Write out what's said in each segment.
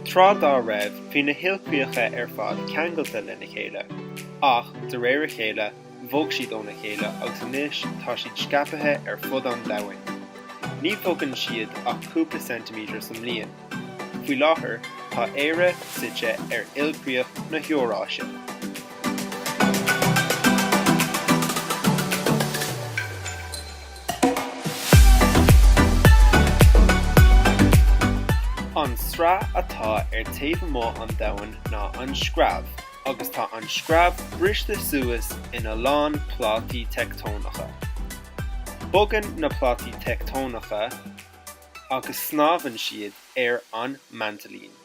Tráth dá raibh, bhí na hilchríocha ar fad ceangailte lena chéile, ach de réir a chéile, bhog siad óna chéile agus anois tá siad scaipthe ar fud an domhain. Ní bhogann siad ach cúpla ceintiméadar sa mbliain. Faoi láthair, tá Éire suite ar ilchríoch na hEoráise. An tsraith atá ar taobh amuigh an domhain ná an screamh, agus tá an screamh briste suas ina lán plátaí teicteonacha. Bogann na plátaí teicteonacha agus snámhann siad ar an maintlín.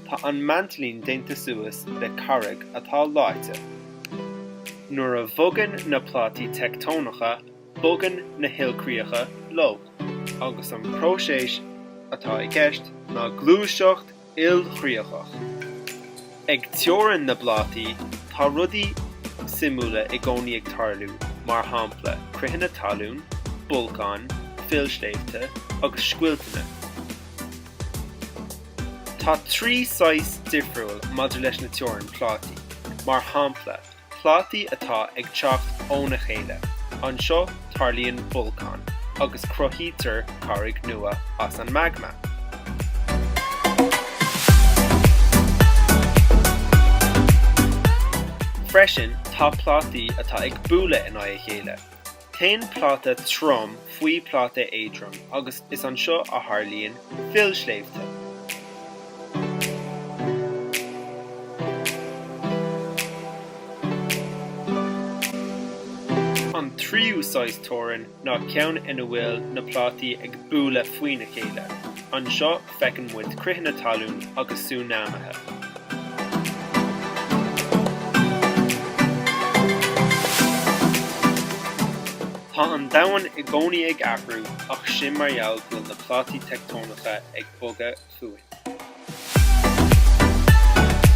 Tá an maintlín déanta suas le carraig atá leáite. Nuair a bhogann na plátaí teicteonacha, bogann na hilchríocha leo, agus an próiseas atá i gceist ná gluaiseacht ilchríochach. Ag teorainn na bplátaí, tá rudaí suimiúla i gcónaí ag tarlú, mar shampla critheanna talún, bolcáin, fillsléibhte agus scoilteanna. Tá trí saghas difriúil maidir leis na teorainn plátaí, mar shampla, plátaí atá ag teacht óna chéile, anseo tarlaíonn bolcáin agus cruthaítear carraig nua as an magma. Freisin tá plátaí atá ag bualadh in aghaidh a chéile, Téann pláta trom faoi phláta éadrom agus is anseo a tharlaíonn fillsléibhte. An tríú saghas teorann ná ceann ina bhfuil na plátaí ag bualadh faoina chéile. Anseo feiceann muid critheanna talún agus súnáimithe. Tá an domhan i gcónaí ag athrú ach sin mar gheall go bhfuil na plátaí teicteonacha ag bogadh fúinn.